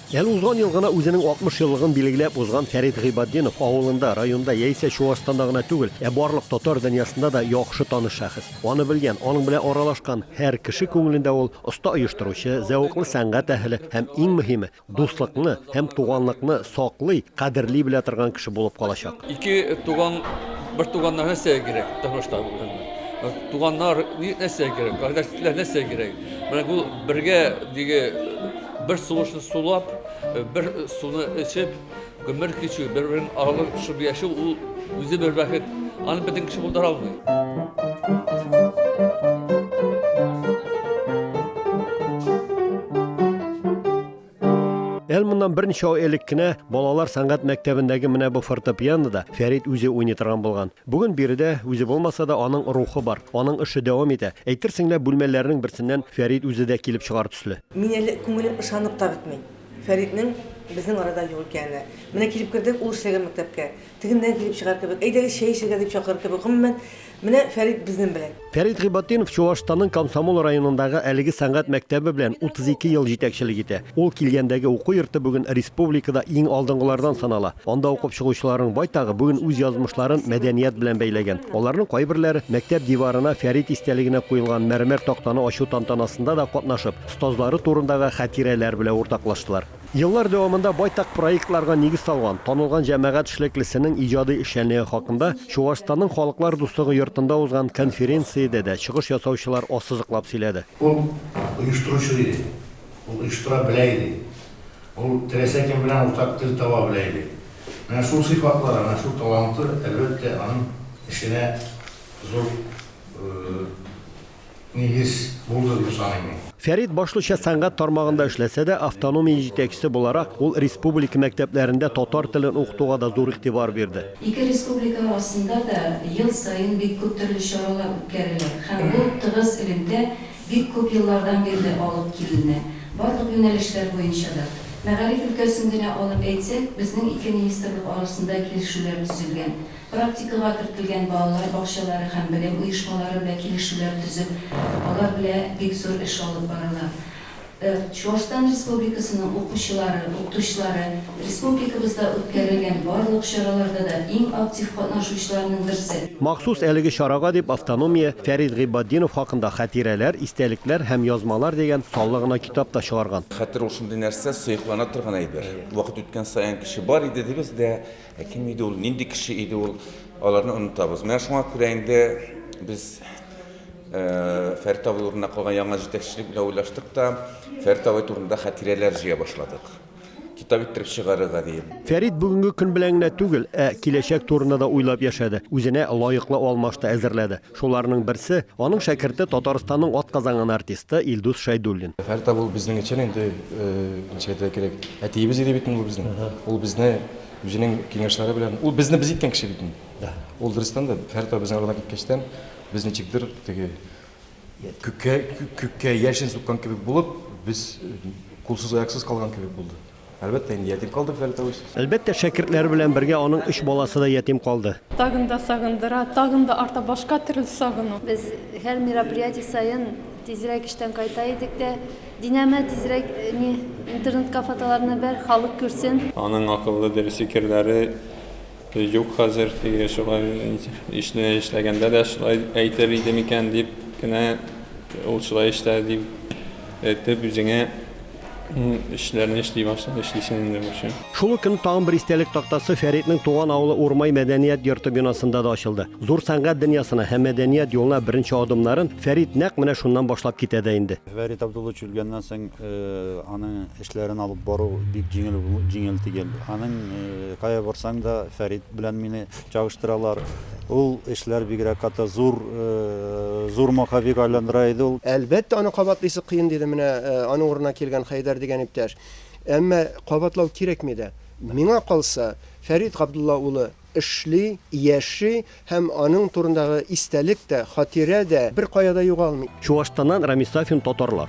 Әле узган ел гына үзенең 60 еллыгын билгеләп узган Фәрит Гыйбатдинов авылында, районда яисә Чуашстанда гына түгел, ә барлык татар дөньясында да яхшы таныш шәхес. Аны белгән, аның белән аралашкан һәр кеше күңелендә ул, оста оештыручы, зәвыклы сәнгать әһеле һәм, иң мөһиме, дуслыкны һәм туганлыкны саклый, кадерли белә торган кеше булып калачак. Ике туган, бер туганнан нәрсә кирәк тормышта? Туганнар нәрсә кирәк, кардәшләр нәрсә кирәк? Менә бу бергә диге бер сулышны сулап, бер суны эчеп, гомер кичү, бер-берен алып шып яшәү ул үзе бер бәхет. Аны бөтен кеше булдыра алмый. Әл моннан берничә ай элек кенә балалар сәнгать мәктәбендәге менә бу фортепианода Фәрид үзе уйный торган булган. Бүген биредә үзе булмаса да аның рухы бар, аның эше дәвам итә. Әйтерсең лә бүлмәләрнең берсеннән Фәрид үзе дә килеп чыгар төсле. Мин әле күңелем ышанып та бетми Фәриднең безнең арада юк икәненә. Менә килеп кердек ул эшләгән мәктәпкә. Тегеннән килеп чыгар кебек. Әйдәгез, чәй эчәргә, дип чакырыр кебек. Гомумән, менә Фәрит безнен белән. Фәрит Гыйбатдинов Чуашстанның Комсомол районындагы әлеге сәнгать мәктәбе белән 32 ел җитәкчелек итә. Ул килгәндәге уку йорты бүген республикада иң алдынгылардан санала. Анда укып чыгучыларның байтагы бүген үз язмышларын мәдәният белән бәйләгән. Аларның кайберләре мәктәп диварына Фәрит истәлегенә куелган мәрмәр тактаны ачу тантанасында да катнашып, остазлары турындагы хәтирәләр белә уртаклаштылар. Еллар дәвамында байтак проектларга нигез салган, танылган җәмәгать эшлеклесенең иҗади эшчәнлеге хакында Чуашстанның Халыклар дуслыгы йортында узган конференциядә дә чыгыш ясаучылар ассызыклап сөйләде. Ул оештыручы да иде, ул оештыра белә иде, ул теләсә кем белән уртак тел таба белә иде. Менә шул сыйфатлары, менә шул таланты, әлбәттә, аның эшенә зур нигез булды дип саныйм мин. Фәрит башлыча сәнгать тармагында эшләсә дә, автономия җитәкчесе буларак, ул республика мәктәпләрендә татар телен укытуга да зур игътибар бирде. Ике республика арасында да ел саен бик күп төрле чаралар үткәрелә һәм бу тыгыз элемтә бик күп еллардан бирле алып киленә, барлык юнәлешләр буенча да. Мәгариф өлкәсен генә алып әйтсәк, безнең ике министрлык арасында килешүләр төзелгән, Практикага кертелгән балалар бакчалары һәм белем оешмалары белән килешүләр төзеп, алар белә бик зур эш алып барыла. Ыр. Чуашстан Республикасының укучылары, укытучылары республикабызда үткәрелгән барлык чараларда да иң актив катнашучыларның берсе. Махсус әлеге чарага дип автономия Фәрит Гыйбатдинов хакында Хатирәләр, истәлекләр һәм язмалар дигән саллы гына китап та чыгарган. Хәтер ул шундый нәрсә, сыеклана торган әйбер. Вакыт үткән саен кеше бар иде дибез дә, Ә кем иде ул, нинди кеше иде ул, аларны онытабыз. Менә шуңа күрә инде без Фәрит абый урынына калган яңа җитәкчелек белән уйлаштык та, Фәрит абый турында хатирәләр җыя башладык. Китап иттереп чыгарырга диеп. Фәрит бүгенге көн белән генә түгел, ә киләчәк турында да уйлап яшәде, үзенә лаеклы алмашты әзерләде. Шуларның берсе, аның шәкерте Татарстанның атказанган артисты Илдус Шәйдуллин. Фәрит абый ул безнең өчен инде, ничек әйтергә кирәк, әтиебез иде бит инде ул безнең. Ул безне үзенең киңәшләре белән, ул безне без иткән кеше бит инде. Да. Ул дөрестән дә Фәрит абый безнең арада киткәчтән, без ничектер теге күккә, күккә яшен суккан кебек булып, без кулсыз-аяксыз калган кебек булды. Әлбәттә, инде ятим калдык, Фәрдәвес. Әлбәттә, шәкертләре белән бергә аның өч баласы да ятим калды. Тагын да сагындыра, тагын да арта башка төрле сагыну. Без һәр мероприятие саен тизрәк эштән кайта идек тә, Динәмә, тизрәк ни, интернетка фотоларны бәр, халык күрсен. Аның акыллы, дөрес фикерләре. Юк, хәзер теге шулай ишне эшләгәндә дә шулай әйтер иде микән дип кенә, ул шулай эшләде дип әйтеп, үзеңә эшләрне эшли башлый, эшлисең инде бушы. Шул ук көнне тагын бер истәлек тактасы Фәритнең туган авылы Урмай мәдәният йорты бинасында да ачылды. Зур сәнгать дөньясына һәм мәдәният юлына беренче адымнарын Фәрит нәкъ менә шуннан башлап китә дә инде. Фәрит Абдуллович үлгәннән соң аның эшләрен алып бару бик җиңел җиңел тигел. Аның кая барсаң да Фәрит белән мине чагыштыралар. Ул эшләр бигрәк каты зур зур маховик айландыра иде ул. Әлбәттә, аны кабатлыйсы кыен, диде менә аның урынына килгән Хәйдәр дигән иптәш. Әмма кабатлау кирәкми дә. Миңа калса, Фәрит Габдулла улы эшли, яши һәм аның турындагы истәлек тә, хатирә дә беркая да югалмый. Чуашстаннан Рамис Сафин татарлар.